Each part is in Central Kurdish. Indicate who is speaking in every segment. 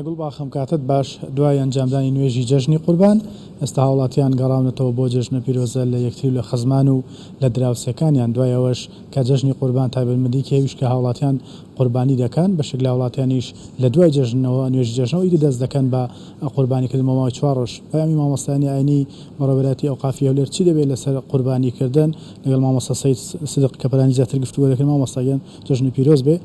Speaker 1: گوڵباخم کاتت باش، دوای ئەنجامدانی نوێژی جەژنی قوربان، ئێستا هاوڵاتیان گەڕاونەتەوە بۆ جەژنە پیرۆزە لە یەکتری و لە خزمان و لە دراوسێکانیان، دوای ئەوەش کە جەژنی قوربان تایبەتمەندیەکی هەیوش کە هاوڵاتیان قوربانی دەکەن، بەشێک لە هاوڵاتیانیش لە دوای جەژنەوە، نوێژی جەژنەوە ئیدی دەست دەکەن بە قوربانی کردن بۆ ماوەی چوار ڕۆژ. پەیامی مامۆستایانی ئاینی بەڕێوەبەرایەتی ئەوقافی هەولێر چی دەبێت لەسەر قوربانی کردن؟ لەگەڵ مامۆستا سەید سدق کەپلانی زیاتر گفتوگۆ دەکەین مامۆستا گیان. جەژنی پیرۆز بێ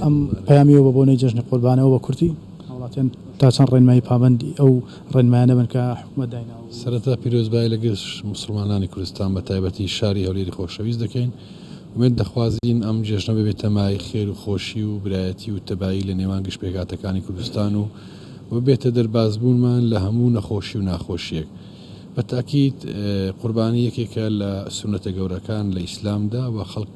Speaker 1: ئەم پەیامیەوە بە بۆنەی جەژنی قوربانەوە بە کورتی هاوڵاتیان تا چەند ڕێنمایی پابەندی ئەو ڕێنمایانە بن کە حکومەت دایناوە. سەرەتا پیرۆزبایی
Speaker 2: لە گشت موسڵمانانی کوردستان بە تایبەتی شاری هەولێری خۆشەویست دەکەین، ئومێد دەخوازین ئەم جێژنە ببێتە مایەی خێر و خۆشی و برایەتی و تەبایی لە نێوان گشت پێکهاتەکانی کوردستان و ببێتە دەربازبوونمان لە هەموو نەخۆشی و ناخۆشیەک. بە تاکید قوربانی یەکێکە لە سونەتە گەورەکان لە ئیسلامدا و خەڵک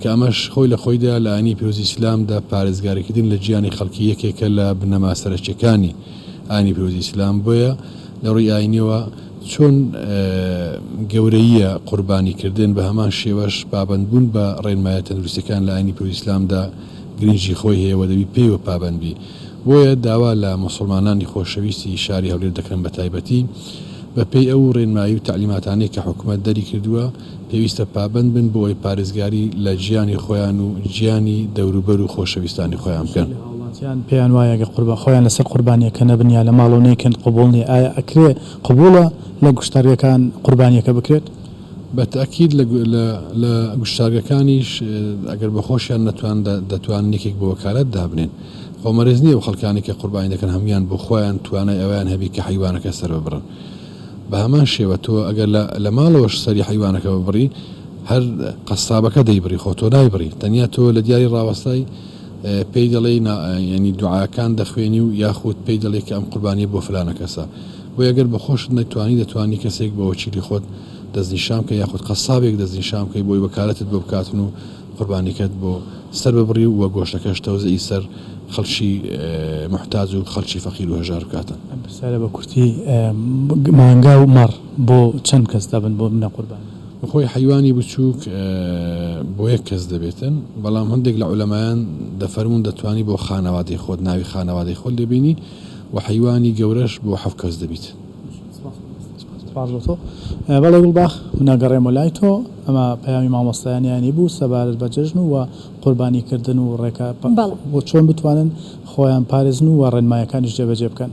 Speaker 2: کە ئەمەش خۆی لە خۆیدا لە ئاینی پیرۆزی ئیسلامدا پارێزگاریکردن لە گیانی خەڵکی یەکێکە لە بنەما سەرەکیەکانی ئاینی پیرۆزی ئیسلام بۆیە لە ڕوی ئاینیەوە چۆن گەورەییە قوربانیکردن بە هەمان شێوەش پابەندبوون بە ڕێنمایە تەندروستەکان لە ئاینی پیرۆزی ئیسلامدا گرنگی خۆی هەیە و دەبی پێیوە پابەندبی بۆیە داوا لە موسڵمانانی خۆشەویستی شاری هەولێر دەکەم بەتایبەتی بەپێی ئەو ڕێنمایی و تەعلیماتانەی کە حکومەت دەریکردووە پێویستە پابەند بن بۆ ئەوەی پارێزگاری لە ژیانی خۆیان و ژیانی دەوروبەر و خۆشەویستانی خۆیان بکەن. هەندێ هاوڵاتیان پێیان وایە
Speaker 1: گەر قوربان خۆیان لەسەر قوربانیەکە نەبن یا لە ماڵەوە نەیکەن قبوڵ نیە، ئایا ئەکرێ قبوڵە لە گوشتارگەکان قوربانیەکە بکرێت؟ بە تەئکید
Speaker 2: لە گوشتارگەکانیش ئەگەر بە خۆشیان نەتواندا دەتوانن یەکێک بە وەکالەت دابنێن. خۆ مەرج نیە ئەو خەڵکانەی کە قوربانی دەکەن هەموویان بۆ خۆیان توانای ئەوەیان هەبی کە حەیوانەکە سەرببڕن. بە هەمان شێوە تۆ ئەگەر لە ماڵەوەش سەری حەیوانەکە ببڕی هەر قەسابەکە دەیبڕی خۆ تۆ نایبڕی تەنیا تۆ لە دیاری ڕاوەستای پێی دەڵێی یعنی دوعاکان دەخوێنی و یاخود پێی دەڵێ کە ئەم قوربانیە بۆ فلانە کەسە بۆ ئەگەر بە خۆشت نەتوانی دەتوانی کەسێک بە وەکیلی خۆت دەستنیشان بکە یاخود قەسابێک دەستنیشان بکەی بۆی وەکالەتت بۆ بکاتن و قوربانیکەت بۆ سەر ببڕی و گۆشتەکەش تەوزعی سەر خەڵکی موحتاج و خەڵکی فەقیر و هەژار بکاتن. ئەم پرسیارە بە کورتی
Speaker 1: مانگا و مەڕ بۆ چەند کەس دەبن بۆ منە قوربانی؟ خۆی حەیوانی
Speaker 2: بچووک بۆ یەک کەس دەبێتن بەڵام هەندێک لە عولەمایان دەفەرموون دەتوانی بۆ خانەوادەی خۆت ناوی خانەوادەی خۆت لێ بێنی و حەیوانی گەورەش بۆ حەفت کەس دەبیت. سپاس بۆ تۆ.
Speaker 1: بەڵێ گوڵباخ، من ئەگەڕێمەوە لای تۆ. ئەمە پەیامی مامۆستایانیانی بوو سەبارەت بە جەژن و قوربانیکردن و ڕێکار بەڵێ. بۆ چۆن بتوانن خۆیان پارێزن و ڕێنمایەکانیش جێبەجێ بکەن.